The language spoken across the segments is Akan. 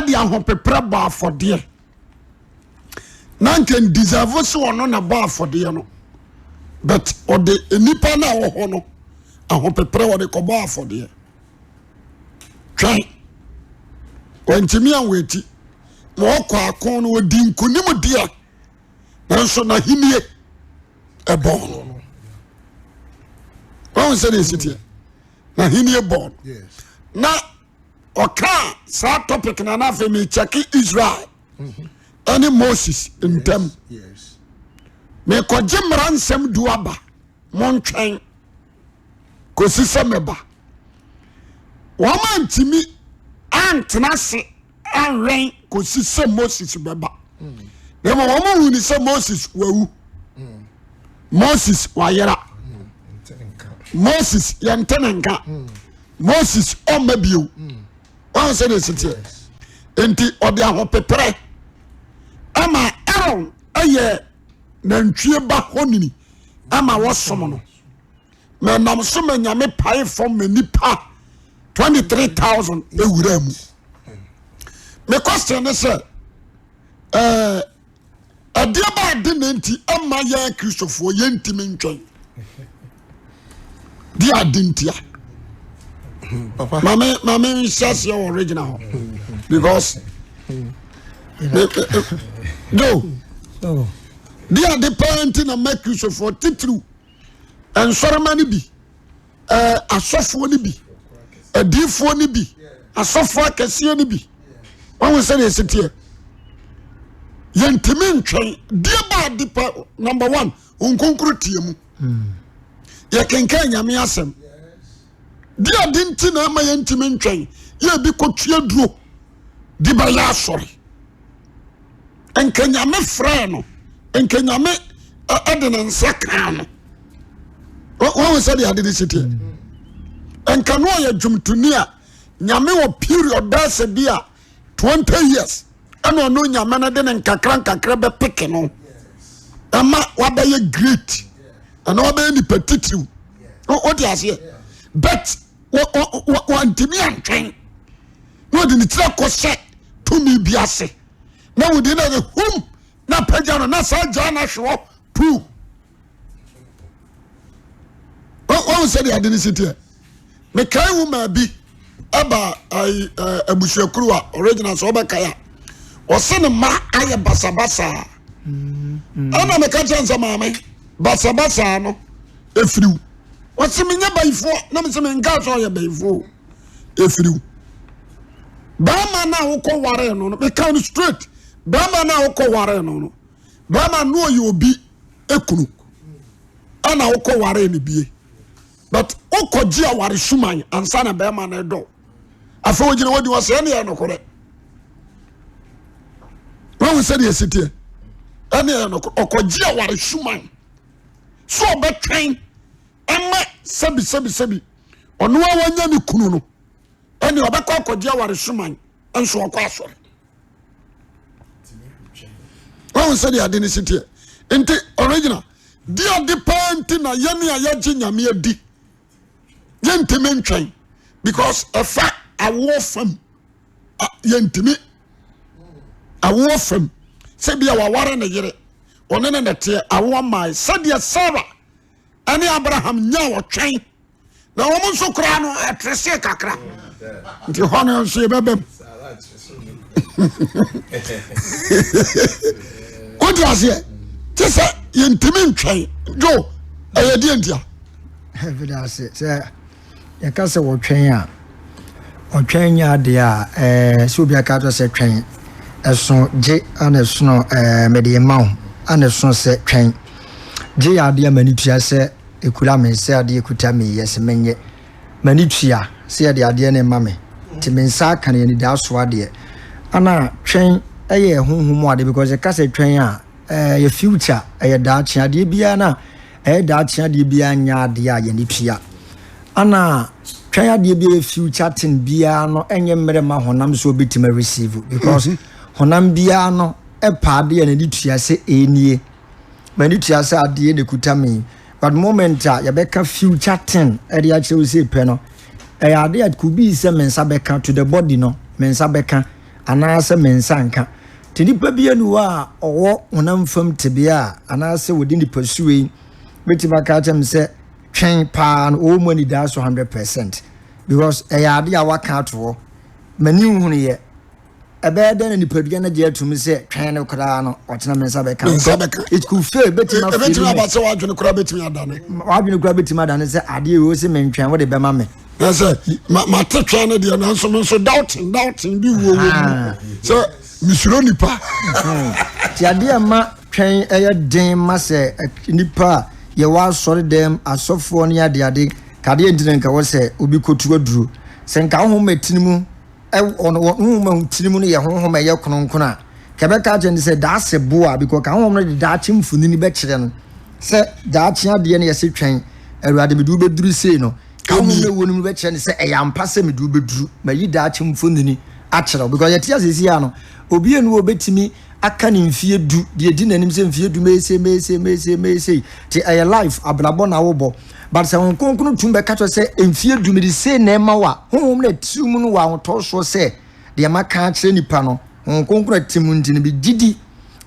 de ahopeprɛ bɔ afɔdeɛ na nka n deserve sɛ ɔno na bɔ afɔdeɛ no but ɔde nnipa no a wɔ hɔ no ahopeprɛ wɔde kɔbɔ afɔdeɛ twɛn wɔntumi anwati ma ɔkɔ ako no ɔdi nkonim deɛ nanso n'ahennie ɛbɔn no wɔn sɛ na ɛsi teɛ n'ahennie bɔn na ɔkaa saa topic na na afei mekyɛke israel mhm. ɛne moses ntam mekɔgye mmara nsɛm du aba montwɛn kɔsi sɛ meba wɔma ntimi antena ase anwɛn kɔsi sɛ moses bɛba mm. na ma wɔma hu ni sɛ moses wawu mm. moses wayera mm. moses yɛnte ne nka moses ɔmma bio ɔn sɛ deɛ siteɛ nti ɔde ahopeprɛ ama aaron ɛyɛ nantwie ba hɔnini ama wɔsom no mɛnam so ma nyame pae fam ma nipa 23000 ɛwura mu me question ne sɛ ɛɛ eh, Ɛdeɛ ba ade na nti ɛma yɛn Kristofoɔ yɛntumi ntwɛn deɛ ade ntia mame mame nhyɛ aseɛ wɔ regina hɔ because do deɛ ade paa nti na ma Kristofoɔ titiriw nsɔrema no bi eh, asɔfoɔ no bi adiifoɔ no bi asɔfoɔ akɛseɛ no bi wahu sɛdeɛ ɛsi teɛ yɛntumi ntwɛn deɛ baa depa number one nkonkoro tie mu yɛkenkan nyame asɛm deɛ de nti na ama yɛntumi ntwɛn yɛ bi kɔtua duro de bɛyɛ asɔre nka nyame frɛɛ no nka nyame ɛde ne nsa kaa no wɔn sɛ deɛ ade ne si teɛ nka no ɔyɛ dwomtoni a nyame wɔ period bɛɛsɛ bi a twenty years ɛna ɔno nyame no de ne nkakra nkakra bɛpeke no ɛma wabɛyɛ great ɛna wabɛyɛ nipa titiriw wote aseɛ but wɔntumi antwɛn na ɔde ne tiri akɔhyɛ tumi bi ase na wɔde na yɛ hum na apagya no na saa gyaa no ahwe hɔ puu wɔn sɛ deɛ ade no si teɛ mekae wo maa bi ɛba abusuakuru a original sɛ ɔbɛkae a ɔse ne mma ayɛ basabasaa mm-hmm. ɛna meka kyerɛ nsɛ maame basabasaa no ɛfiriw ɔse menyɛ bayifoɔ na mesɛ menkaa sɛ ɔyɛ bayifoɔ ɛfiri wo bɛrima no a wokɔ waree no no meka no straight bɛrima no a wokɔ waree no no bɛrima no ɔyɛ obi ekunu ɛna wokɔ waree no bie but wokɔgye aware suman ansa na bɛrima no ɛdɔ afei wogyina wadi wɔ sɛ ɛne ɛyɛ nokorɛ wahu sɛdeɛ ɛsiteɛ ɛne ɛyɛ nokorɛ ɔkɔgye aware suman so ɔbɛtwɛn ɛma sɛbisɛbisɛbi ɔno a wanya ne kunu no ɛne ɔbɛkɔ akɔgye awaresoman nso ɔkɔ asɔre wahu sɛdeɛ ade no si teɛ nti ɔregyina di ade paa nti na yɛne a yɛgye nyame adi yɛntumi ntwɛn because ɛfa awoɔ fam yɛntumi awoɔ fam sɛbia waware ne yere ɔne ne nɛteɛ awoɔ mae sɛdeɛ sarah ɛne abraham nya ɔtwɛn na wɔn nso koraa no ɛtresee kakra nti hɔ no nso yɛbɛbɛm wode aseɛ te sɛ yɛntumi ntwɛn jo ɛyɛ deɛ ntia Yɛka sɛ wɔtwɛn a, ɔtwɛn nyɛ adeɛ a ɛɛ sɛ obi aka akyerɛ sɛ twɛn ɛso gye ana ɛsono ɛɛ mede ma wo ana ɛsono sɛ twɛn gye yɛ adeɛ ma ne tua sɛ ekura me sɛ adeɛ kuta me yɛ sɛ menyɛ ma ne tua sɛ yɛde adeɛ ne ma me te me nsa aka ne yɛnida aso adeɛ ana twɛn ɛyɛ ɛhoho mu adeɛ because ɛka sɛ twɛn a ɛɛ yɛ future ɛyɛ daakye adeɛ biara na Ɛyɛ daakye adeɛ biara nyɛ adeɛ a yɛn ani tua. Ana twɛn adeɛ bi a ɛyɛ future thing biara no ɛnyɛ mmerɛ ma honam so ɔbɛtumi receive because mhm. honam biara no ɛpa adeɛ a n'ani tua sɛ ɛnie m'ani tua sɛ adeɛ na ɛkuta me but moment a yɛbɛka future thing ɛde akyerɛ wo sɛ pɛ no ɛyɛ adeɛ a could be sɛ me nsa bɛka to the body no me nsa bɛka anaasɛ me nsa nka. Nti nipa bi anu hɔ a ɔwɔ honam fam tebea a anaasɛ wɔde nipa su wei bɛtumi aka kyɛ me sɛ twɛn paa no ɔwɔ mu anidaa so 100% because ɛyɛ ade a waka ato hɔ m'ani nhunu yɛ ɛbɛyɛ dɛn na nipadua no gye atum sɛ twɛn no koraa no ɔtena me nsa bɛka no it could fail bɛtumi afiri me wadwene koraa bɛtumi adane wadwene koraa bɛtumi adane sɛ adeɛ wei sɛ mentwɛn wode bɛma me na sɛ mate twɛn no deɛ nanso me nso doubting doubting bi wuo wɔ mu ah. sɛ mesuro nipa nti adeɛ a ma twɛn ɛyɛ den ma sɛ nipa a yɛwɔ asɔre dɛm asɔfoɔ ne adeade kadeɛ nti na nka wɔ sɛ obi kɔtu aduro sɛ nka honhom atini mu honhom atini mu no yɛ honhom ɛyɛ kronkron a kɛbɛka kyerɛ no sɛ daase boa because ka honhom no de daakye mfonini bɛkyerɛ no sɛ daakye adeɛ no yɛse twɛn awurade mede wobɛduru sei no Ahonhom no a ɛwɔ no mu no bɛkyerɛ no sɛ ɛyɛ ampa sɛ mede wo bɛduru. Mayi daakye mfonini akyerɛ wo. Because yɛte ase si a no, obi enu a obɛtumi aka ne mfeɛ du deɛ ɛdi n'anim sɛ mfeɛ du mɛyɛ sei mɛyɛ sei mɛyɛ sei mɛyɛ sei. Te ɛyɛ life abrabɔ na wobɔ. But sɛ Honhom Kronkron tumi bɛka kyerɛ sɛ mfeɛ du mede sei na ɛma wo a, Honhom no a ɛtiri mu no wɔ ahotɔsoɔ sɛ deɛ maka akyerɛ nipa no, Honhom Kronkron a ɛte mu nti no, megye di.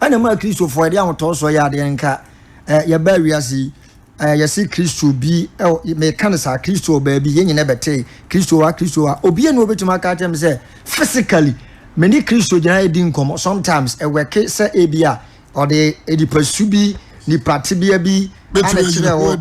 Ɛna ɛma Akristofoɔ yɛde ahotɔsoɔ yɛ adeɛ nka yɛbaa wiase yi. Ɛɛ, yɛse Kristo bi, ɛwɔ, meka no saa, Kristo wɔ baabi, yɛn nyinaa bɛtee, Kristo wɔ ha, Kristo wɔ ha. Obiara ni obetumi aka akyerɛ me sɛ, physically, me ne Kristo gyina redi nkɔmmɔ. Sometimes, ɛwɛke sɛ ebi a ɔde nipa su bi, nipa tebea bi, ana kyerɛ wo,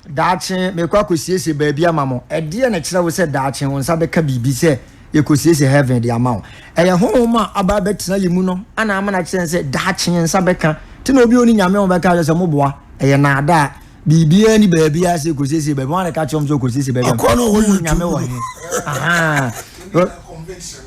daakye mekɔ akɔsiesie baabi ama mo. Ɛdeɛ na ɛkyerɛ wo sɛ daakye wo nsa bɛka biribi sɛ Yɛkɔsiesie heaven de ama wo. Ɛyɛ Honhom a aba abɛtena yɛ mu no na ama no akyerɛ yɛn sɛ daakye yɛn nsa bɛka. Nti na obi a ɔni Nyame a ɔbɛka akyerɛ sɛ moboa, ɛyɛ nnaadaa. Biribiara nni baabiara sɛ kɔsiesie baabi. Hwan na ɛka kyerɛ wɔn sɛ wɔkɔsiesie baabi ama me? Honhom Nyame wɔ he? Ahaa.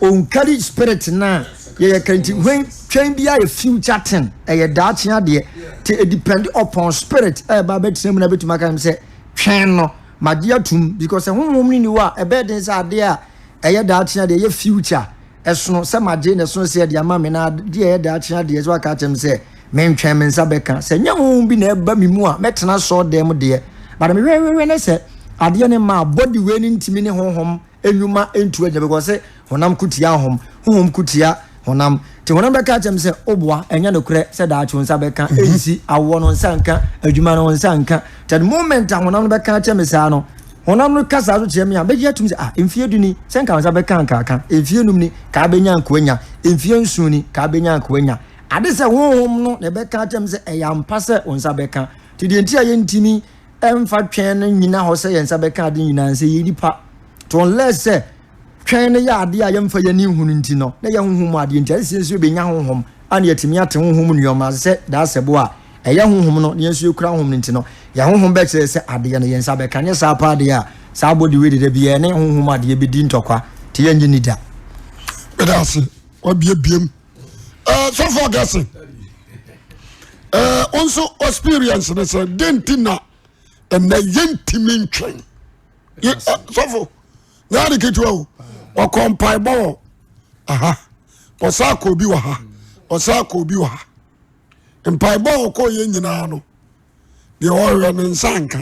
Ɔnkari spirit no a yɛyɛ kari nti when, twɛn biara yɛ future thing. Ɛyɛ daakye adeɛ. Nti ɛdepɛnde upon spirit a ɛba abɛtena mu na ɛbɛtumi aka yɛn sɛ twɛn no. Magye atom because sɛ honhom no nni hɔ a ɛbɛyɛ den sɛ adeɛ a ɛyɛ daakye adeɛ, ɛyɛ future, ɛsono sɛ magye na ɛsono sɛ ɛde ama me na adeɛ a ɛyɛ daakye adeɛ sɛ waka akyerɛ me sɛ mentwɛn me nsa bɛka. Sɛ ɛnyɛ honhom bi na ɛba me mu a mɛtena asɔɔdan mu deɛ but mehwɛhwɛhwɛ na sɛ adeɛ no mmaa body wei no ntumi ne honhom Enwuma ntu agya because se honam ko tia hom, honhom ko tia honam. Ntsi honam bɛka akyerɛ me sɛ, O boa, nnyɛ nokorɛ sɛ daakye wo nsa bɛka nsi awoɔ no, wo nsa nka adwuma no, wo nsa nka. Ntsi the moment a honam no bɛka akyerɛ me saa no, honam no ka saa so kyerɛ me a, mɛgye atum sɛ, ah, mfie du ni, sɛ nka wo nsa bɛka a nka aka, mfie num ni, ka abɛnya nka wanya, mfie nson ni, ka abɛnya nka wanya. Ade sɛ honhom no na ɛbɛka akyerɛ me sɛ ɛyɛ ampa sɛ wo nsa bɛka. Ntsi deɛ nti a yɛntumi ɛmfa twɛn no nyina hɔ sɛ yɛn nsa bɛka ade nyinaa sɛ yɛdi pa. To unless sɛ twɛn no yɛ adeɛ a yɛmfa yɛn ani nhunu nti no, na ɛyɛ honhom mu adeɛ nti a, ɛsɛ sɛ yɛn bɛnya honhom a na yɛatumi ate honhom mu nneɛma ase sɛ daa sɛ bo a ɛyɛ honhom no na yɛn nso yɛkura honhom no nti no, yɛn honhom bɛkyerɛ sɛ adeɛ no yɛn nsa bɛka. Anyɛ saa paa deɛ a, saa body wei de da biara yɛne honhom mu adeɛ bɛdi ntɔkwa nti yɛnnye nni da. Meda ase, wabie biem. Eh, sɔfo ɔgɛse eh, wo nso experience ne sɛ dɛn nti na ɛnɛ yɛntimi ntwɛn eh, sɔfo nyɛ ade ketewa o ɔkɔ mpaebɔ wɔ aha ɔsa akɔ obi wɔ ha ɔsa akɔ obi wɔ ha mpaebɔ a ɔkɔ yɛ nyinaa no deɛ ɔhwɛ no nsa nka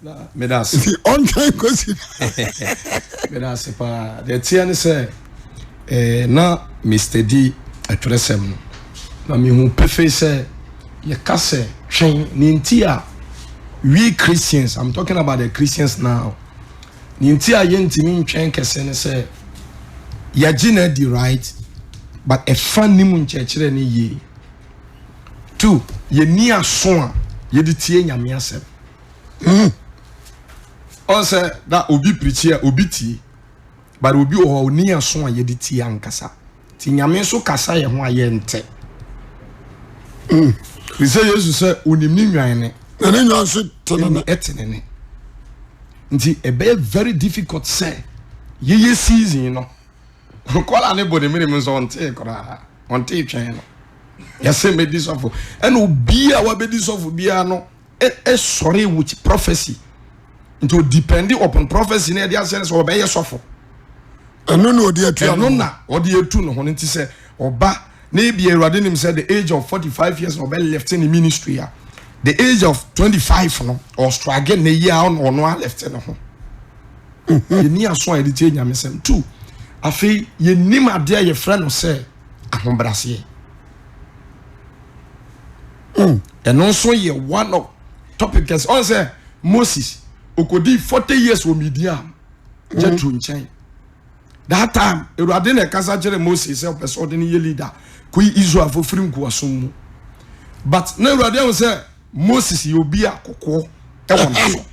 nti ɔntwɛn kɔsi meda ase paa deɛ teɛ ne sɛ eh, na mr di atwerɛsɛm no na mehu pefee sɛ yɛka sɛ twɛn ne nti a we christians i'm talking about the christians now ne nti a yɛntumi ntwɛn kɛse ne sɛ yɛgye no adi right but ɛfa nim nkyerɛkyerɛ no yie Two, yɛnni aso a yɛde tie Nyame asɛm. Mm. Ɔnsɛ na obi pirikyi a obi tie. But obi wɔ hɔ ɔni aso a yɛde tie ankasa. Ti Nyame nso kasa yɛ ho a yɛnte. Mm. Sɛ Yesu sɛ onim ne nwan ne. Na ne nwan nso tenene. Ɛtenene. Nti ɛbɛyɛ very difficult sɛ yɛyɛ season no. Nkɔla ne bɔ ne menim nso ɔntee koraa ɔntee twɛn no yɛsɛ mɛdi sɔfo ɛna obi a wabɛdi sɔfo biara no ɛsɔre e, with prophecy nti o depend upon prophecy na ɛde asɛ no sɛ ɔbɛyɛ sɔfo ɛno na ɔde atu ɛno na ɔde atu no ho no nti sɛ ɔba na ebi awurade nim sɛ the age of 45 years na ɔbɛ left ne ministry a the age of 25 no ɔstrage ne yia ɔno a left ne ho Yɛnni aso a yɛde tie nyamesɛm. Two, afei yɛnnim adeɛ a yɛfrɛ no sɛ ahobraseɛ. Mm. Ɛno nso yɛ one of topic kɛse. Ɔn sɛ Moses okodi forty years wɔ Midian Jethro mm. nkyɛn. That time Awurade na ɛkasa kyerɛ Moses sɛ ɔpɛ sɛ ɔde no yɛ leader kɔyi Israelfo firi nkoasom mu. But na Awurade ahu sɛ Moses yɛ obi a kɔkɔɔ ɛwɔ ne so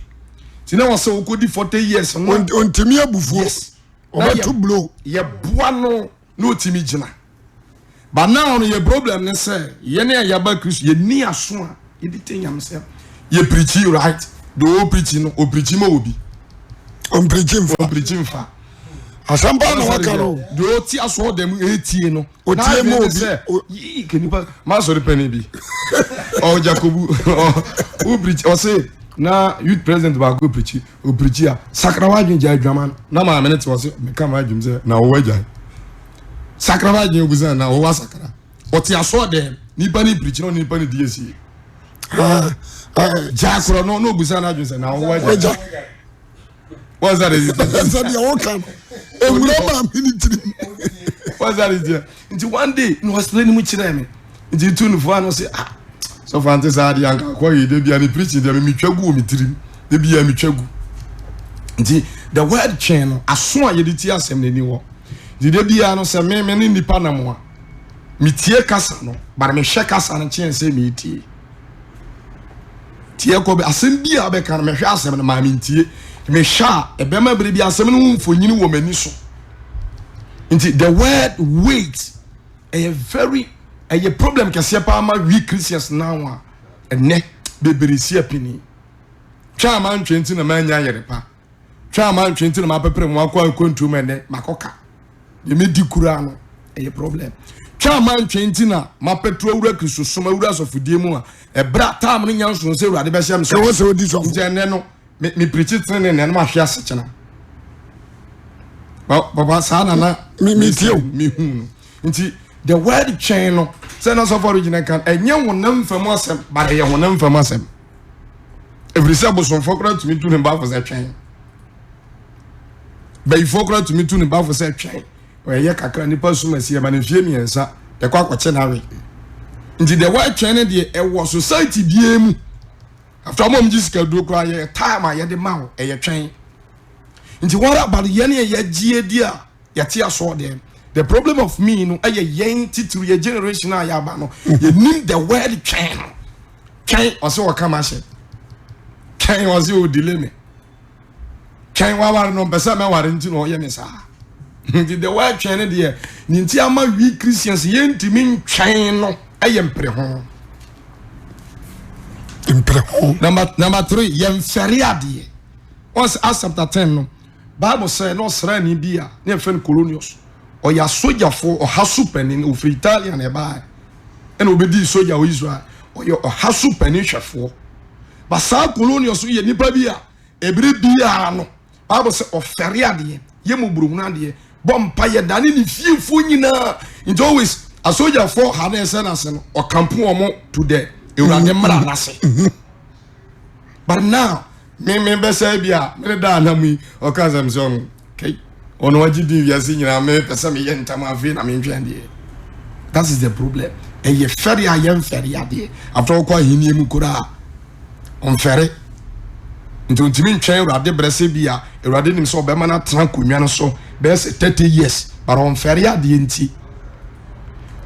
ti na wɔsɛ ɔkɔdi forty years no. Ɔntumi abufuo. Yes. Ɔbɛto blow. Yɛboa no na ɔtumi gyina. But now no yɛ problem ne sɛ yɛne a yɛaba Kristo yɛni aso a yɛde te nyamesɛm. Yɛ pirikyi right. De ɔpirikyi no ɔpirikyi ma obi. Ɔmpirikyi mfa. Ɔmpirikyi mfa. Asɛmpa na waka no. De ɔte aso ɔdɛm ɛtie no. otie mu obi sɛ yii kenipa masɔre panyin bi ɔ jacobu ɔ obirikyi ɔse na youth president baako obirikyi obirikyi a sakra wadwin gya adwama na maame ne te ɔse meka ma adwim sɛ na ɔwɔ agya sakra wadwin obusa na ɔwɔ asakra ɔte asɔ dɛ nipa ne birikyi na nipa ne di esie ah, ah, gya korɔ no na obusa na adwin sɛ na ɔwɔ agya What's that is it? Sɛ deɛ woka no. Ewura maame ne tirim. What's that is it? Nti one day na ɔsere ne mu kyerɛ me. Nti tu no fo ano se ah. So fante saa deɛ anka akɔ yɛ de bia ne preaching deɛ me twa gu wɔ me tirim. De bia me twa gu. Nti the word twɛn no aso a yɛde tie asɛm n'ani wɔ. Nti de bia no sɛ me me ne nipa nam a metie kasa no, but mehwɛ kasa no kyɛn sɛ metie. Tie kɔ bi asɛm bi a bɛka no mehwɛ asɛm no maa mentie mehwɛ a ɛbɛma bere bi asɛm no ho mfonyini wɔ m'ani so nti the word wait ɛyɛ very ɛyɛ problem kɛseɛ paa ma we Christians now a ɛnɛ bebree si apini twɛ a mantwɛ nti na manya yɛre pa Twɛn a mantwɛn nti na mapepere mu akɔ akwantuo mu ɛnɛ makɔka. Deɛ medi koraa no ɛyɛ problem. Twɛn a mantwɛn nti na mapɛto awura Kristosom awura asɔfodie mu a ɛberɛ a taam no nya nsono sɛ Awurade bɛhyɛ me so. Ɛwɔ sɛ wodi sɔfo. Nti ɛnɛ no mepirikyi tene ne na ɛnum ahwe asekyena. Papa saa na na metie o mehu no. Nti the word twɛn no sɛ na sɔfo original kan ɛnyɛ honam fam asɛm but ɛyɛ honam fam asɛm. ɛfiri sɛ bosomfoɔ koraa tumi tu ne ba fo sɛ twɛn bayifoɔ koraa tumi tu ne ba fo sɛ twɛn ɛyɛ kakra nipa sum asi ɛma ne mfie mmiɛnsa yɛkɔ akɔkye no awe nti deɛ wɔatwɛn no deɛ ɛwɔ society biara mu after wɔn gye sika duro koraa yɛ time a yɛde ma wo ɛyɛ twɛn nti wɔn aba no yɛn yɛ yɛgye adi a yɛte asɔɔdɛm the problem of me no ɛyɛ yɛn titiri yɛ generation a yɛaba no mhm. yɛnim the word twɛn no twɛn ɔsɛ ɔka ma hyɛ twɛn ɔsɛ ɔdile me twɛn waware no mpɛ sɛ mɛware nti na ɔyɛ me saa nti the word twɛn no deɛ ne nti ama we christians yɛntumi ntwɛn no ɛyɛ mpere ho mpere ho number number three yɛmfɛre adeɛ ɔsɛ asɛpta ten no Bible sɛ na ɔsraani bi a na yɛfrɛ no Kolonius, ɔyɛ asogyafoɔ ɔha so panin, ɔfiri Italia na ɛbaeɛ, ɛna ɔbɛdii sogya wɔ Israel, ɔyɛ ɔha so panin hwɛfoɔ. Ba saa Kolonius yɛ nipa bi a ɛberɛ biara no Bible sɛ ɔfɛre adeɛ, yɛ mmɔborɔhunu adeɛ, bɔ mpaeɛ, dane ne fiefoɔ nyinaa, nti always asogyafoɔ ɔha na ɛsɛ no ase no, ɔkampo wɔn to dɛ awurade mmara no ase. But now, Me me bɛsa bi a me ne da ana mu yi ɔka asɛm sɛ ɔno kɛi ɔno agye din wiase nyinaa me pɛ sɛ meyɛ ntam afei na mentwɛn deɛ that is the problem ɛyɛ fɛre a yɛmfɛre adeɛ after ɔkɔ ahenni mu koraa ɔmfɛre nti ntumi ntwɛn awurade berɛ sɛ bi a awurade nim sɛ ɔbɛma no atena akonnwa no so bɛyɛ sɛ 30 years but ɔmfɛre adeɛ nti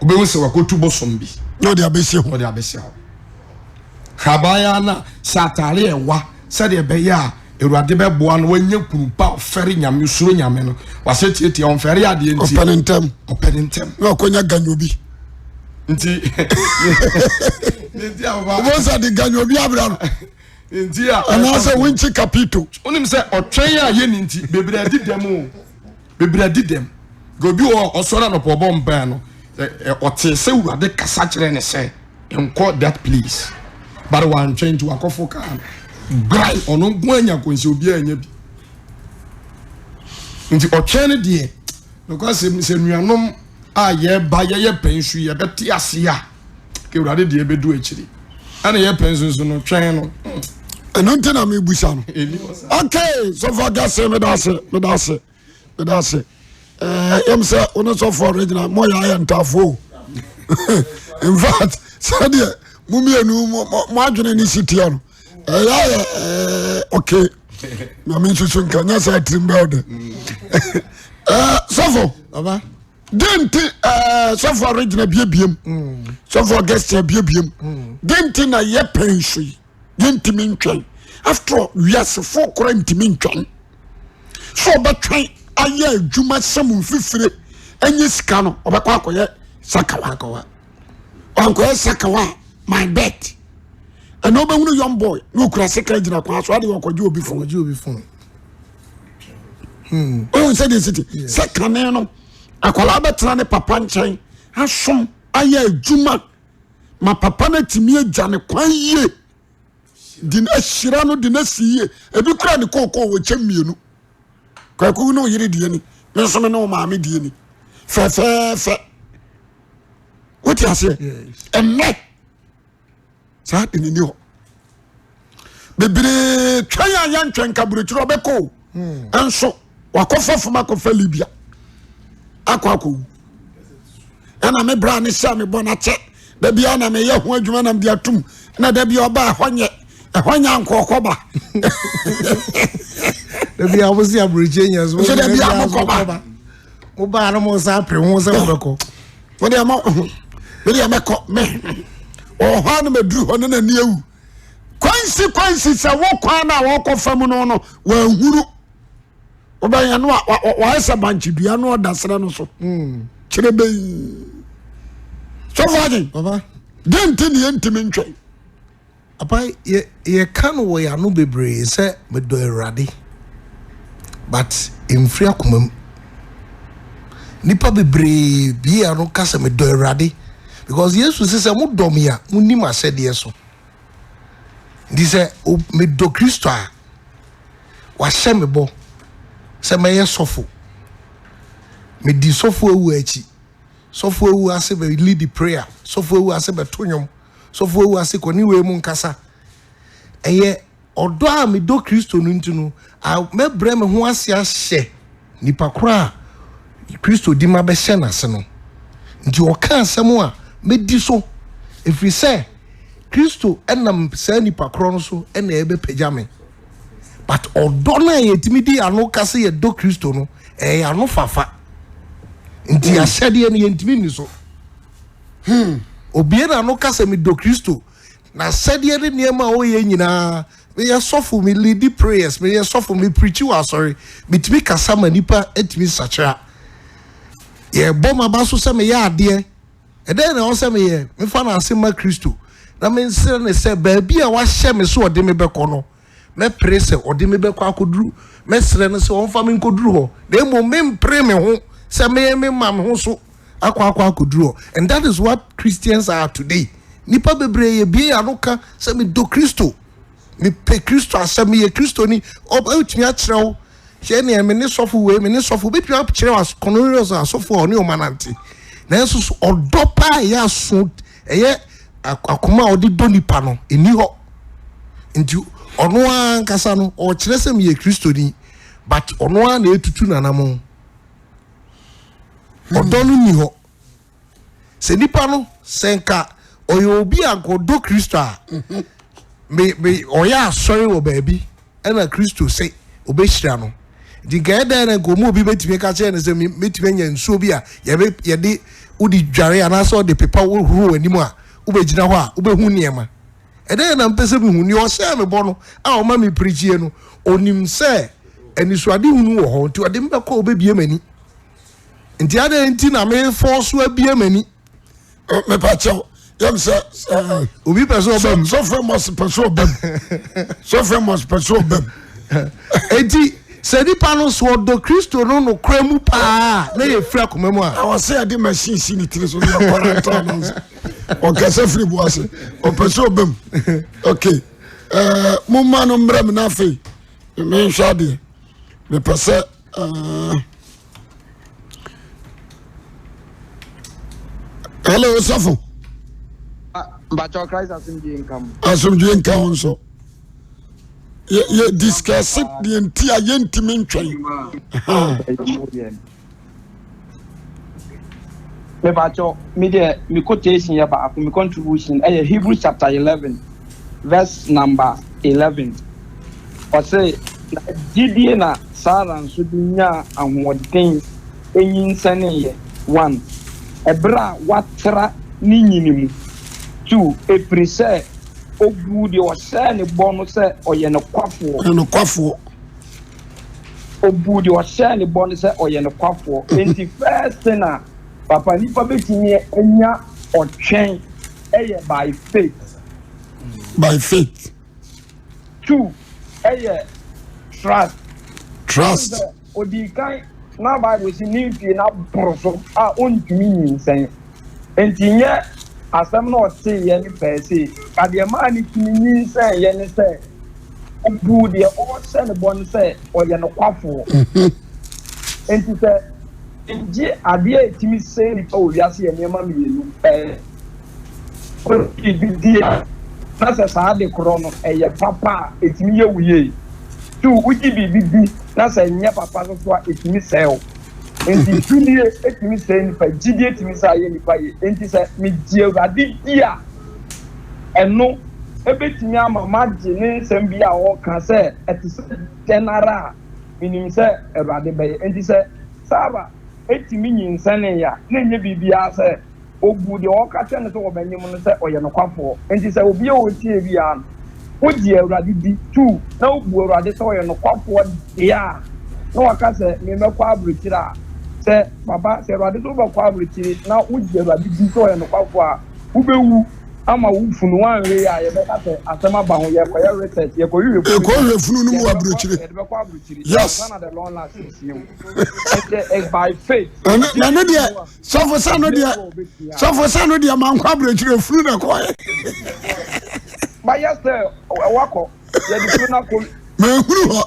wobɛhu sɛ wakɔtu bosom bi na ɔde abɛsi hɔ ɔde abɛsi hɔ Kraban yi ara na hyɛ atare a ɛwa sɛdeɛ ɛbɛyɛ a Awurade bɛboa no wanya kunu pa a ɔfɛre Nyame, osuro Nyame no. Wahyɛ tiatia, ɔmfɛre adeɛ nti. Ɔpɛ ne ntɛm. Ɔpɛ ne ntɛm. Na ɔkɔnya ganyo bi. Nti. Nti afa. Wọ́n sá di ganyo bi abira no. Nti a. Anaasɛ wọ́n nkyi kapito. Wọ́n nim sɛ ɔtwɛn a yɛ ni nti bebree adi dɛm o. bebree adi dɛm. Nka obi wɔ hɔ a ɔsɔre anɔpa ɔbɔ mpae no, ɔtee sɛ Awurade kasa kyerɛ ne sɛ, nkɔ that place. But wantwɛn nti wakɔfo kaa no. Gbae, ɔno nko anya akwanhyia, obiara anya bi. Nti ɔtwɛn no deɛ, nokwasɛm ni sɛ anuanom a yɛba yɛyɛ pɛn so yi, yɛbɛte ase a, Ke Awurade deɛ ɛbɛdu akyiri. Ɛna yɛ pɛ nso nso no twɛn no. Ɛno nti na mebusa no. Okay, sɔfo akɛse meda ase meda ase meda ase. Eh, yɛm sɛ wo ne sɔfo original mo yɛ ayɛ ntafo. In fact, sɛdeɛ mo mmienu mo adwene ne si teɛ no ɛyɛ ayɛ eh, okay. Na me nso so nka nyɛ sɛ atirim bɛyɛ dɛ. Eh, sɔfo. Baba. den nti eh, sɔfo aregina biebiem mm. sɔfo augustin biebiem mm. den nti na yɛ pɛn so yi yɛntumi ntwɛn after all wiasefo kora ntumi ntwɛn so ɔbɛtwɛn ayɛ adwuma sɛm mfifire ɛnyɛ sika no ɔbɛkɔ akɔyɛ sakawa ɔnkɔyɛ sakawa my bet ɛna ɔbɛhunu young boy na ɔkura sika gyina kwan so ade ɔkɔgye obi fon ohun sɛ deɛ siti sɛ kane no akwadaa bɛtena ne papa nkyɛn asom ayɛ adwuma ma papa no atumi agya ne kwan yie de no ahyira no de no asi yie ebi kura ne kookoo wɔ kyɛ mmienu kwaku ne oyere deɛ ni me nso me ne maame deɛ ni fɛfɛɛfɛ wote aseɛ ɛnɛ. saa de ne ni hɔ bebree twɛn a yɛntwɛn nka burokyerɛ ɔbɛkɔ o hmm. nso wakɔfa fam akɔfa libya akɔ akɔwu ɛna me bra ne sɛ mebɔ no akyɛ da bia na meyɛ ho adwuma nam de atom na da bia ɔba ɛhɔ nyɛ ɛhɔ nya nkɔɔkɔba da bia mo se aburokyerɛ nya so da bia mokɔba mo baa no mo nsa apere ho sɛ mobɛkɔ mo deɛ ma me deɛ mɛkɔ me ɔwɔ hɔ a na maduru hɔ ne n'ani awu kwansi kwansi sɛ wo kwan no a wɔkɔ fa mu no no wɔahunu wobɛyɛ no a wɔayɛ sɛ bankye dua no ɔda serɛ no so hmm. kyerɛ bɛyi sɔfo agye dɛn nti ne yɛntimi ntwɛn Papa, yɛ yɛka no wɔ yɛn ano bebree sɛ medɔ Awurade, but ɛmfiri akoma mu. Nnipa bebree bie ano ka sɛ medɔ Awurade because Yesu se sɛ modɔ me a monni m'ahyɛdeɛ so. Nti sɛ medɔ Kristo a, wahyɛ me bɔ sɛ mɛyɛ sɔfo. Medi sɔfo awu akyi. Sɔfo awu ase bɛ lead prayer. Sɔfo awu ase bɛto nnwom. sɔfo awu ase kɔ ne wei mu nkasa ɛyɛ ɔdɔ a medɔ kristo no nti no mɛbrɛ me ho ase ahyɛ nipa koro a kristo di ma bɛhyɛ n'ase no nti ɔka asɛm a mɛdi so ɛfiri sɛ kristo nam saa nipa korɔ no so na ɛbɛpagya me but ɔdɔ no a yɛtumi di ano ka sɛ yɛdɔ kristo no ɛyɛ ano fafa nti hmm. ahyɛdeɛ no yɛntumi nni so Hmm. Obue n'ano ka sɛ, Medɔ Kristo, n'asɛdeɛ ne nneɛma a ɔyɛ nyinaa. Meyɛ sɔfo, me leadi prayers, meyɛ sɔfo, me preachi wɔ asɔre, metumi kasa ma nnipa tumi sakyera. Yɛrebɔ m'aba so sɛ meyɛ adeɛ. Ɛdɛn na ɛwɔ sɛ meyɛ? Mefa no ase ma Kristo, na mensrɛ no sɛ baabi a wahyɛ me sɛ ɔde me bɛkɔ no, Mɛpere sɛ ɔde me bɛkɔ akɔduru, mɛsrɛ no sɛ ɔmfa me nkɔduru hɔ, na mmom mempere me ho sɛ me mema me ho so akɔ akɔ akɔduru hɔ. And that is what Christians are today. Nnipa bebree yɛbue yɛn ano ka sɛ medɔ Kristo, mepɛ Kristo asɛm, meyɛ Kristoni. Ɔbɛtumi akyerɛ wo, hwɛ nea me ne sɔfo wei, me ne sɔfo, ɔbɛtumi akyerɛ wo Cornelius asɔfo a ɔne wɔn anante. Nanso so ɔdɔ paa a ɛyɛ aso Ɛyɛ akoma a ɔde dɔ nipa no nni hɔ. Nti ɔno ara ankasa no ɔrekyerɛ sɛ meyɛ Kristoni but ɔno ara na ɛretutu n'anamɔn. Hmm. Ɔdɔ no nni hɔ. Sɛ nipa no sɛ nka ɔyɛ obi a nka ɔdɔ Kristo a, mhm. ɔyɛ asɔre wɔ baabi. ɛna Kristo se obehyira no. Nti nka ɛyɛ dɛn na nka ɔmu obi betumi aka akyerɛ no sɛ, Me, metumi anya nsuo bi a yɛbe, yɛde, wode dware anaasɛ ɔde pepa wo horo w'anim a, wobegyina hɔ a, wobehu nneɛma. Ɛdɛn na mpɛ sɛ mehu? Nea ɔhyɛɛ me bɔ no a ɔma me pirikyie no, ɔnim sɛ anisoadehunu wɔ hɔ, nti ɔde me bɛkɔ a ɔbɛbue m'ani. Nti adɛn nti na mefɔɔso abue m'ani? mɛpa kyɛw yɛm sɛ obi pɛ sɛ ɔbɛm sɔfrɛ mɔs pɛ sɛ ɔbɛm sɔfrɛ mɔs pɛ sɛ ɔbɛm enti sɛ nipa no so ɔdɔ kristo no nokorɛ mu paa na yɛfiri akoma mu a na wɔsɛ yɛde machine si ne tiri so ne yɛkɔranta no ase ɔkɛsɛ firi bo ase ɔpɛ sɛ ɔbɛm ok momma no mmerɛ m no afei menhwɛ adeɛ mepɛ sɛ Uh, hello, Safo. Bàtà ah, Christ asomdwe nka mu. Asomdwe nka ho nso. Yɛ yɛ discuss deɛ nti a yɛntumi ntwɛn. mepakyɛ me deɛ me quotation yɛ baako me contribution ɛyɛ eh, hebrew chapter eleven verse number eleven ɔse na gyidie na sara nso de nyaa ahoɔden enyinsɛneeɛ one ɛberɛ a watra ne nyini mu two ɛfiri sɛ ɔbuu deɛ ɔhyɛɛ ne bɔ no sɛ ɔyɛ nokwafoɔ nokwafoɔ Obuu deɛ ɔhyɛɛ ne bɔ no sɛ ɔyɛ nokwafoɔ. Enti first thing a papa nipa bɛtumi anya ɔtwɛn ɛyɛ by faith. By faith. Two ɛyɛ trust. Trust. Ɔdii kan na Bible si ne mfie no aboro so a ɔntumi nyinsɛn. Enti nyɛ asɛm no a ɔteeɛ no pɛɛ sei, na deɛ ɛmaa no tumi nyinsɛneeɛ ne sɛ, ɔbuu deɛ ɔrehyɛ no bɔ no sɛ ɔyɛ nokwafoɔ. Enti sɛ yɛgye adeɛ a ɛtumi sɛe nnipa wɔ wiase yɛ nneɛma mmienu, ɛyɛ biribi di a, na sɛ saa ade korɔ no ɛyɛ papa a, ɛtumi yɛ wo yie. So wogye biribi di na sɛ ɛnyɛ papa nso a, ɛtumi sɛe wo? Enti gyidie tumi sɛe nnipa, gyidie tumi sa yɛ nnipa yie. Enti sɛ megye Awurade di a, ɛno ɛbɛtumi ama magye ne nsɛm bi a ɔka sɛ ɛte sɛ dɛn ara a menim sɛ Awurade bɛyɛ. Enti sɛ Sara tumi nyinsɛnee a, na ɛnyɛ biribiara sɛ Obu deɛ wɔka kyerɛ no sɛ wɔbɛnyem no sɛ ɔyɛ nokwafoɔ. Enti sɛ obi a ɔretie biara no, wogye Awurade di, two, na wobu Awurade sɛ ɔyɛ nokwafoɔ deɛ a, na waka sɛ, Memmɛkɔ aburokyire a. Sɛ, Papa, sɛ Awurade sɛ wobɛkɔ aburokyire na wogye Awurade di sɛ ɔyɛ nokwafoɔ a, wobɛwu ama wo funu, woanwe yɛ a, yɛbɛka sɛ asɛm aba ho, yɛrekɔyɛ research, yɛkɔwe wɛ funu, yɛkɔwe wɛ funu no mu aburokyire, yɛde bɛkɔ aburokyire, yes, ansa na the long last nsie wo. Ɛnde, it's by faith. Ɛnde, na ne deɛ, sɔfo sɛ no deɛ sɔfo sɛ no deɛ manko abrɛkyerɛ funu na kɔɛ mayɛ sɛ wakɔ yɛde funu no akɔ mahunu hɔ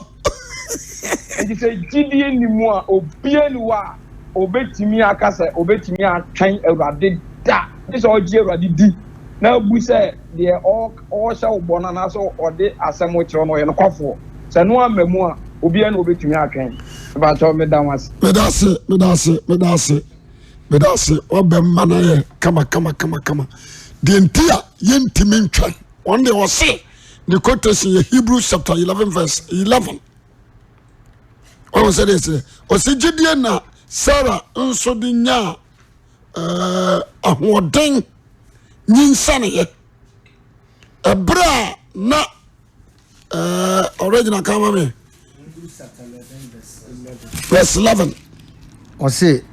nti sɛ gyidie ni mu a obia ni hɔ a obɛtumi aka sɛ obɛtumi atwɛn awurade da ne sɛ ɔgye awurade di na abu sɛ deɛ ɔka ɔhyɛ wo bɔ no anaasɛ ɔde asɛm kyerɛ wo no, ɔyɛ nokwafoɔ. Sɛ ɛno amma mu a, obiara ni ɔbɛtumi atwɛn. Mepakyɛw, meda mo ase. Meda ase, meda ase, meda ase, meda ase. W'aba mu ma no ayɛ kama kama kama kama. Deɛ nti a yɛntumi ntwɛn, wɔn deɛ wɔse ne quotation yɛ Hebrews chapter eleven verse eleven. Wɔn sɛ deɛ sɛ ɔsɛ gyidie na Sarah nso de nyaa ɛɛ ahoɔden nyinsɛneyɛ. ɛberɛ a na ɔregyina eh, ka ma me verse 11 ɔse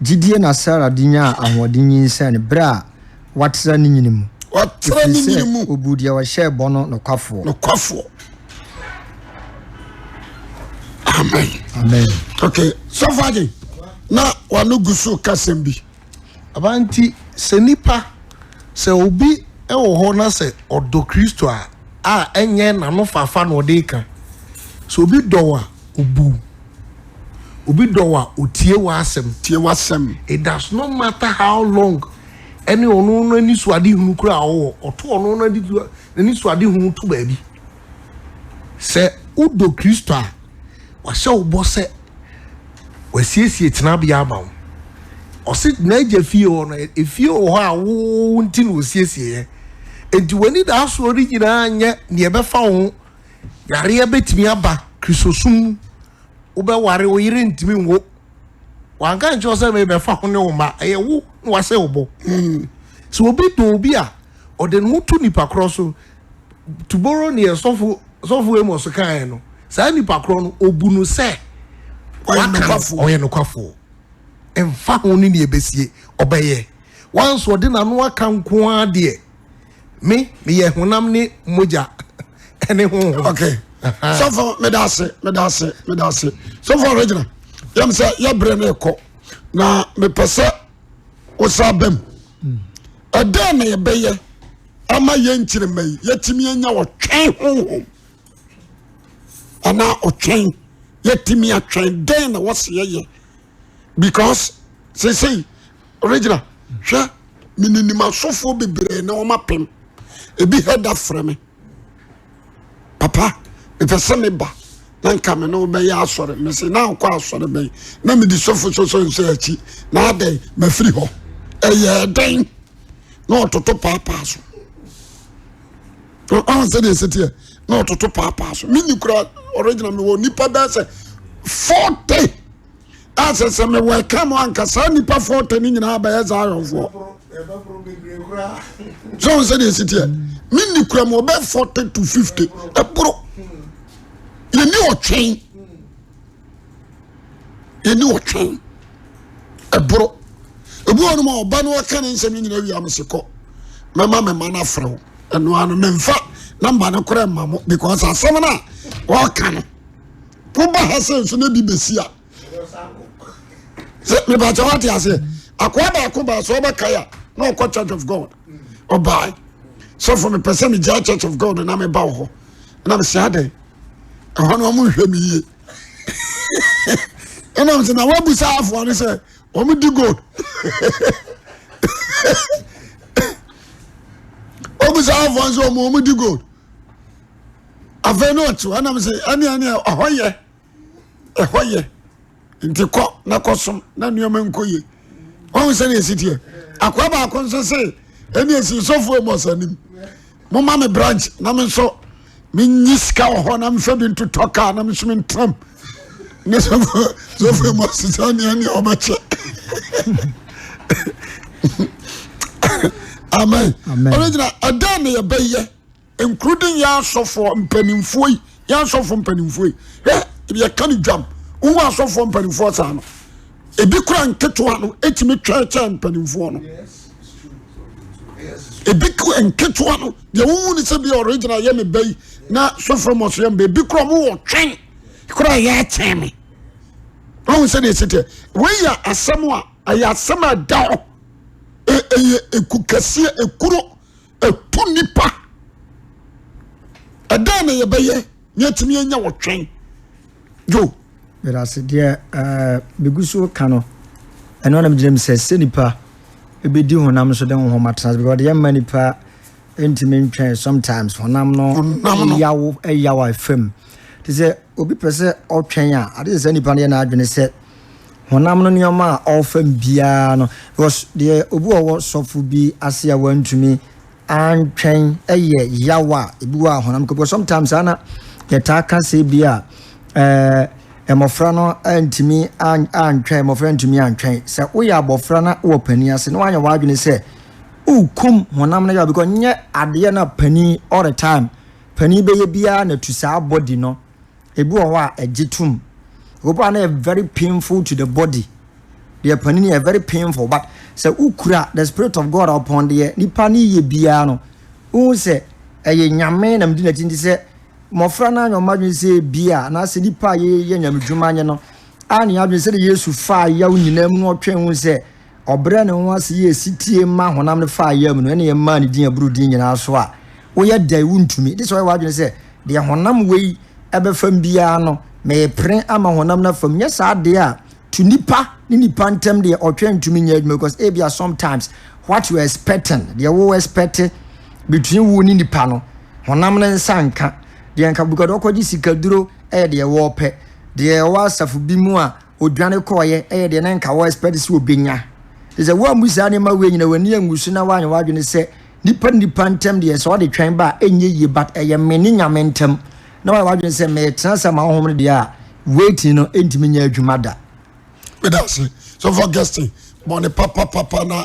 gyidie na sara de nyaa ahoɔden nyinsɛn berɛ a watera ne nyini mu watera ne nyini mu ɔbu deɛ ɔhyɛɛ bɔ no nokwafoɔ nokwafoɔ amen amen okay sɔfo agye na wano gu so kasɛm bi Aba nti, sɛ nnipa, sɛ obi wɔ hɔ na sɛ ɔdɔ Kristo a, a ɛnyɛ n'anofafa na ɔde reka. Sɛ obi dɔ wo a, obu wo. Obi dɔ wo a, otie w'asɛm. Tie w'asɛm. It does not matter how long ɛne ɔno no anisoadehunu koraa a ɔwɔ, ɔto ɔno no n'anisoadehunu to baabi. Sɛ wodɔ Kristo a, wahyɛ wo bɔ sɛ wasiesie tenabea ama wo. Ɔse n'agya fie hɔ no, efie wɔ hɔ a wo nti na osiesieɛ. Enti w'ani da asoɔre nyinaa nyɛ nea ɛbɛfa wo ho. Yareɛ bɛtumi aba, Kristosom mu, wobɛware, wo yere ntumi nwo. Wanka nkyerɛ wo sɛ mebɛfa ho ne wo mma, ɛyɛ wo na wahyɛ wo bɔ. Sɛ obi dɔ obi a, ɔde ne ho to nipa korɔ so. to borrow near Sofo Sofo Amos kaeɛ no, saa nipa korɔ no obu no sɛ waka no ɔyɛ nokwafoɔ mfa ho ne neɛ ɛbɛsie ɔbɛyɛ wanso ɔde n'ano aka nko ara deɛ me meyɛ honam ne mogya ɛne honhom. okay sɔfo meda ase meda ase meda ase sɔfo regina yɛm sɛ yɛbrɛ no ɛkɔ na mepɛ sɛ wosa bam ɛdɛn na yɛbɛyɛ ama yɛn nkyirimma yi yɛtumi anya ɔtwɛn honhom anaa ɔtwɛn yɛtumi atwɛn dɛn na wɔsi yɛyɛ because sesei original hwɛ mininim asɔfoɔ bebree na wɔn apem ebi hɛda frɛ me. papa mepɛ sɛ meba na nka me ne wobɛyɛ asɔre mese na nkɔ asɔre bɛn na mede sɔfo sɔsɔ nsɛ akyi na adɛn mafiri hɔ ɛyɛ dɛn na ɔtoto paapaa so ɔn sɛ deɛ ɛsɛteɛ na ɔtoto paapaa so meni kora ɔregyina mewɔ nnipa bɛɛ sɛ 40 a sɛ sɛ me welcome anka saa nipa forty ne nyinaa bɛyɛ zionfoɔ sɛ ɔn sɛ deɛ ɛsi teɛ menni kura mu ɔbɛ forty to fifty ɛboro yɛni ɔtwɛn yɛni ɔtwɛn ɛboro ebi wɔn mu a ɔba no ɔka ne nsɛm nyinaa wia mo se kɔ mɛma mɛma no afrɛ wo ɛno ano mɛmfa namba no korɛ mma mo because asɛm no a ɔka no Woba ha sɛ mfe no bi bɛsi a sɛ mebakyɛ woate aseɛ akoa baako baa sɛ ɔbɛkae a na ɔkɔ church of god ɔbae sɔfo mepɛ sɛ megyaa church of god na meba wɔ hɔ na mesɛ adɛn ɛhɔ no ɔmo nhwɛ me yie ɛnam sɛ na woabu saa afoa no sɛ ɔmo di gold ɔbu saa afoa no sɛ ɔmo ɔmo di gold afei ne ɔte hɔ ɛna me sɛ ɛne ɛne ɛhɔ yɛ ɛhɔ yɛ nti kɔ na kɔsom na nneɛma nkɔ yie wɔn sɛ na esi teɛ akwa baako nso se ɛne esi sɔfo emu ɔsɛ anim mo ma me branch na me nso me nyi sika wɔ hɔ na me fɛ bi ntotɔ kaa na me nso me ntram ne sɔfo sɔfo emu ɔsɛ sɛ ɛne ɛne ɔbɛkyɛ. amen ɔno gyina ɛdɛn na yɛbɛyɛ Nkurudin yɛn asɔfoɔ mpanimfoɔ yi yɛn asɔfoɔ mpanimfoɔ yi hwɛ ebi yɛka ne dwam wohu asɔfoɔ mpanimfoɔ saa no ebi kura nketewa no etumi twɛn kyɛn mpanimfoɔ no ebi kura nketewa no deɛ wohu ne sɛ bi original yɛ ne ba yi na sɔfoɔ mɔso yɛ mba ebi kura mo wɔ twɛn kura yɛ akyɛn me wɔn sɛ deɛ esi tɛ wɔn yɛ asɛm a ɛyɛ asɛm a ɛda hɔ ɛyɛ eku kɛseɛ ekuro. ɛtu nnipa. Ɛdɛn na yɛbɛyɛ na yɛatumi anya ɔtwɛn? Yo. Medase deɛ ɛɛ megu so ka no ɛno anam gyina mu sɛ sɛ nipa ebedi honam so de honhom atena because ɔde yɛ mma nipa ntumi ntwɛn sometimes honam no ɛyawo ɛyawo a ɛfam te sɛ obi pɛ sɛ ɔtwɛn a ade sɛ nipa no yɛ n'adwene sɛ Honam no nneɛma a ɔrefa mu biara no, because deɛ obi wɔ wɔ sɔfo bi ase a wantumi antwɛn yɛ yaw a ebi wɔ a honam kɔ because sometimes ana yɛtaa ka sɛ bi a ɛɛ mmɔfra no antumi antwɛn mmɔfra ntumi antwɛn sɛ woyɛ abɔfra na wɔ panin ase na wanyɛ w'adwene sɛ wokum honam no yaw because nyɛ adeɛ na panin all the time panin bɛyɛ biara na tu saa body no Ebi wɔ hɔ a ɛgye tom. Ebi wɔ hɔ a na ɛyɛ very painful to the body. Deɛ panin yɛ very painful but sɛ wokura the spirit of God upon deɛ nipa ne yɛ biara no wohu sɛ ɛyɛ nyame na medi n'akyi nti sɛ mmɔfra no anyɛ wɔn adwene sɛ ebi a anaasɛ nipa a yɛyɛ nyamedwuma nyɛ no anyɛ adwene sɛdeɛ Yesu faa yaw nyinaa mu na ɔtwɛn hu sɛ Ɔbrɛɛ ne ho ase yɛɛ setie maa honam no faa yam no, ɛnna yɛmaa ne din a ɛboro din nyinaa so a woyɛ dɛn wuntumi. Gye sɛ woayɛ w'adwene sɛ, 'Deɛ honam wei bɛfam biara no, merepere ama honam no afam. Nyɛ saa deɛ a, to nnipa ne nnipa ntam deɛ ɔtwɛn ntumi nyɛ adwuma because ebia sometimes what you expecting, deɛ wo expect between wo ne nnipa no, honam no nsa nka. Deɛ nka because ɔkɔgye sikaduro yɛ deɛ wɔpɛ, deɛ ɔwɔ asafo bi mu a ɔdwane kɔeɛ yɛ deɛ na nka wɔ expect sɛ ɔbɛnya. Te sɛ woammu saa nneɛma wei nyina w'ani angu so na woanyɛ w'adwene sɛ nipa nipa ntam deɛ sɛ ɔde twɛn ba a ɛnyɛ yie but ɛyɛ me ne Nyame ntam na woayɛ w'adwene sɛ meretena ase ama honhom no deɛ a waiting no ɛntumi nyɛ adwuma da. Meda ase sɛ ɔfa guest bɔne papapapa na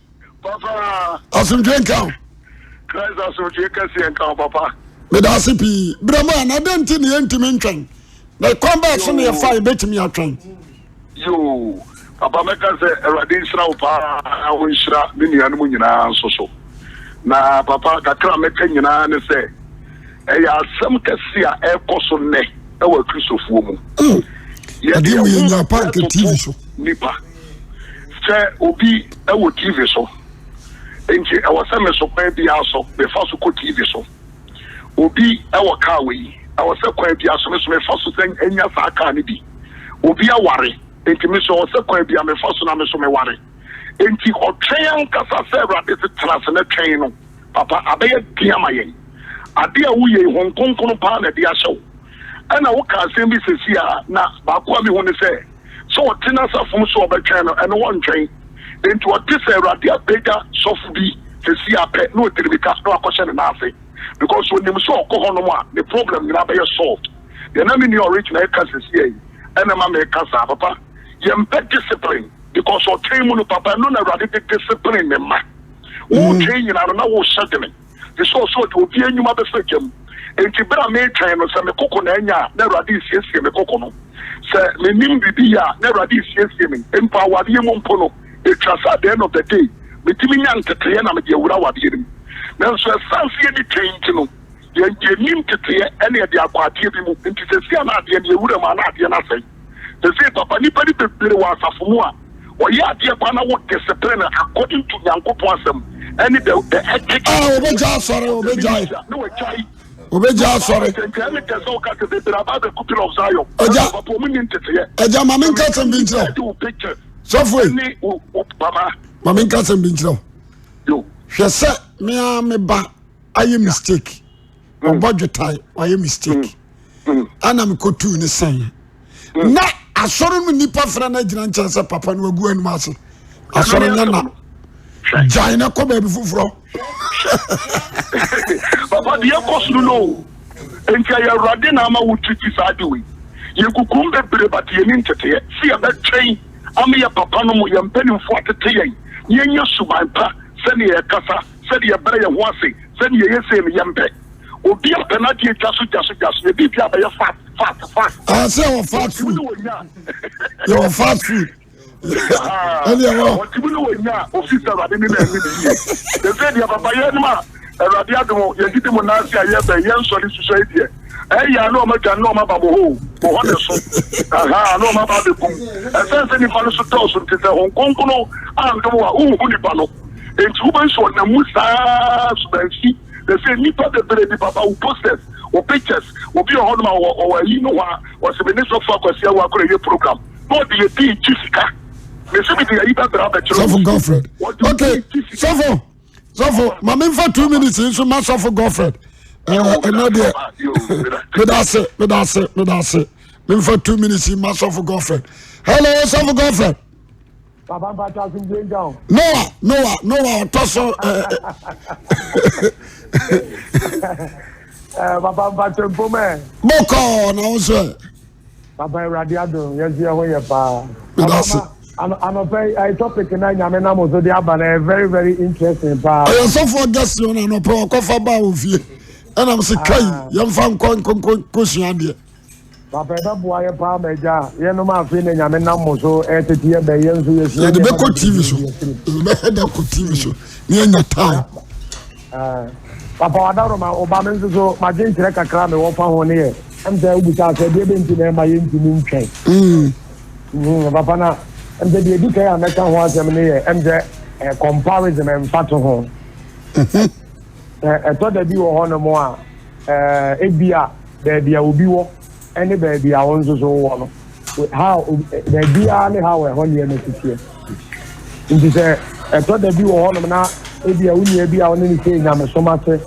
papa. asomdwe nka ho. christ asomdwe kɛseɛ nka ho papa. meda ase pii berɛ mu a na dɛn nti ne yɛntumi ntwɛn na kwan bɛɛ so ne yɛfa yɛbɛtumi atwɛn yoo papa mɛka sɛ awurade nhyira wo paa wo nhyira me nuanom nyinaa nso so na papa kakra mɛka nyinaa ne sɛ ɛyɛ asɛm kɛse a ɛkɔ so nnɛ ɛwɔ akristofoɔ mu hmm. yɛde yɛn ho ɛtoto nipa Sɛ obi wɔ TV so, enti ɛwɔ sɛ me so kwan biara so me fa so kɔ TV so. Obi wɔ car wei, ɛwɔ sɛ kwan biara so me so me fa so sɛ nya saa car no bi. Obi aware, enti me so ɛwɔ sɛ kwan biara me fa so na me so me ware. Enti ɔtwɛn ankasa sɛ Awurade se tena ase na twɛn no. Papa, abɛyɛ den ama yɛn. Ade a woyɛ yi, Hon Kronkron paa na ɛde ahyɛ wo. Ɛna wokaa asɛm bi sɛsi a, na baako a me hu ne sɛ, sɛ ɔte n'asafo mu sɛ ɔbɛtwɛn no, ɛno wɔntwɛn. Enti ɔte sɛ Awurade apagya sɔfo bi sesie a pɛ na ɔdi ne mika na wakɔhyɛ ne nan ase because ɔnim sɛ ɔkɔ hɔ nom a ne problem nyinaa bɛyɛ solved. Deɛ na me nua Original ɛka sesie yi ɛna ɛma me ɛka saa. Papa yɛmpɛ discipline because ɔtwɛn mu no papa ɛno na Awurade de discipline ne mma. Wo retwɛn nyinaa no na wo hyɛ dene. Esɔɔ sɛ ɔde obi nnwuma bɛfa gya mu. Enti berɛ a meretwɛn no, sɛ me koko na anya a, na Awurade resiesie me koko no. Sɛ mennim biribi yɛ a, na Awurade resiesie me. Mpo awadeɛ mu mpo no, ɛtwa sɛ at the end of the day, metumi nya nteteeɛ na mede awura awadeɛ no mu. Nanso ɛsiane sɛ yɛnni twɛn nti no, yɛn deɛ nni nteteeɛ ne ɛde akɔ adeɛ bi mu. Enti seesei a na adeɛ no yɛwura mu a, na adeɛ no asɛe. Sesei papa, nnipa no bebree wɔ asafo mu a wɔyɛ adeɛ paa na wo discipline according to Nyankopɔn asɛm ɛne the the ethic. Ah, obegya asɔre, obegyae, Ne wagyae. obegya asɔre. Sɛnkyɛ ɛne kyɛ sɛ woka sɛ bebree aba abɛku Pillar of Zion. Agya. Ɛna papa ɔmo nni nteteɛ. Agya, ma menka asɛm bi nkyerɛ wo. Ɛde wo picture. Sɔfo yi. Ɛne wo wo papa. Ma menka asɛm bi nkyerɛ wo. Yo. Hwɛ sɛ me ara me ba ayɛ mistake. ɔbɔ dwetae wayɛ mistake ɛna mekɔtuu ne sɛn na asɔre no nnipa frɛ no agyina nkyɛn sɛ papa no wagu anim ase asɔre nyɛ na gyae no kɔ baabi foforɔ papa deɛ kɔ soro no nti ɛyɛ awurade na ama wo titi saa de wei yɛkukum bebree but yɛni nteteɛ sɛ yɛbɛtwɛn ama yɛ papa no mo yɛ mpanimfoɔ atete yɛn yɛnya suban pa sɛdeɛ yɛkasa sɛdeɛ yɛbrɛ yɛn ho ase, sɛdeɛ yɛyɛ sei no, yɛmpɛ. Obi apɛ n'adeɛ gya so, gya so, gya so, yɛ biribi abɛyɛ fat, fat, fat. Ah, sɛ yɛwɔ fat food, yɛwɔ fat food. Ɛne ɛwɔ. Ɔtumi ne wɔnya a, ofi sɛ Awurade ne na ɛne ne yie. Yɛsɛ deɛ papa yɛnom a, Awurade adom, yɛdidi mo nan ase a yɛbɛn, yɛnsɔre susua yi deɛ. ɛyɛ a na wɔn agya na wɔn aba mo hɔ o mo hɔ na ɛso aha na wɔn aba abɛgu mu ɛsɛn sɛ nipa no so dɔɔso nti sɛ wɔn nkonkono andom wa wohu nipa no nti wobɛn so ɔnam mu saa subansi na sɛ nipa bebree bi baba wo posters wo pictures obi wɔ hɔ nom a wɔwɔ ayi no hɔ a wɔsɛ me ne sɔfo akwasi awo akora yɛ program na ɔde yɛ dii gye sika me sɛ mede ayi bɛbrɛ abɛkyerɛ sɔfo godfred okay sɔfo sɔfo ma me nfa two minutes yi nso ma sɔfo godfred ɛnɛ deɛ medase medase medase me nfa two minutes yi ma sɔfo godfred hello sɔfo godfred. Papa Mpata Asumdie Nka O. Noah Noah Noah ọtọ so. Papa Mpata Mpoma. Bọkọ na o sọ. Papa Awurade adom yɛso yɛho yɛ paa. Medase. Anɔpɛ yi ayi topic na nyame nam so de aba na very very interesting paa. Ɔyɛ sɔfo agasi ɔna anɔpɛ ɔkɔfa ba wɔ fie. Ɛnam se kai ah. yɛmfa nkɔ nkonko kosua adeɛ. Papa ɛbɛ boa yɛ paa ma agya yɛnom afei na nyame nam mo so ɛtete yɛ bɛyɛ nso yɛsua. Yɛde bɛkɔ TV so. Yɛde bɛhɛda kɔ TV so. Ne yɛnya time. Ɛɛ papa wadaroma wo ba me nso so madwenkyerɛ kakra me wɔ fa ho ne yɛ. Ɛm sɛ wobusaa sɛ deɛ bɛnti na ɛma yɛntumi ntwɛn. Mm. Papa na ɛm sɛ deɛ ɛdi kan a mɛka ho asɛm ne yɛ ɛm sɛ eh, comparison ɛmfa to ho. Ɛtɔ da bi wɔ hɔ nom a eh, ebi a baabi a obi wɔ ɛne baabi a wo nso so wowɔ no how baabiara ne how ɛhɔ nneɛma siteɛ nti sɛ ɛtɔ da bi wɔ hɔnom na ebi a wo nua bi a ɔne ne sɛ nyamesom ase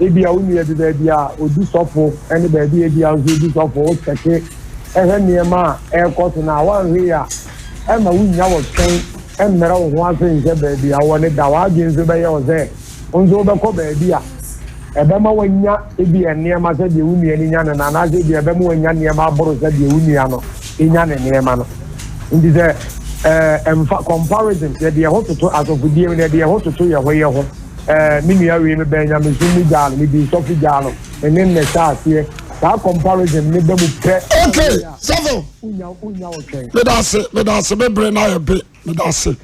ebi a wo nua bi baabi a odi sɔfo ɛne baabi a ebi a nso odi sɔfo wo kyɛke ɛhwɛ nneɛma a ɛrekɔ so na wanhwɛ yi a ɛma wonnya wɔ twɛn ɛmmrɛ wo ho ase nhyɛ baabi a wɔ ne da w'adwene nso bɛyɛ wo sɛ wo nso wobɛkɔ baabi a ɛbɛma wanya ebi nneɛma sɛ deɛ wo nua no nya no no anaasɛ ebi ɛbɛma wanya nneɛma aboro sɛ deɛ wo nua no nya ne nneɛma no nti sɛ ɛɛ mfa comparison yɛ deɛ ho toto asɔfodie mu yɛ deɛ ho toto yɛ ho yɛ ho ɛɛ me nua wei me bɛn nyamesom mu gyaa no me di nsɔfo gyaa no me ne nnɛ hyɛ aseɛ saa comparison ne bɛ mu pɛ. okay sɔfo medase medase bebree na yɛ be. medase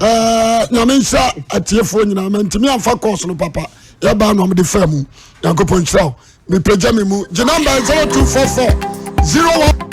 eh, nyame nhyira atiefoɔ nyinaa mantumi amfa course no papa yɛbaa no ɔmde faa mu nyankopɔn nhyira wo mepagya me mu gye namba 0244 01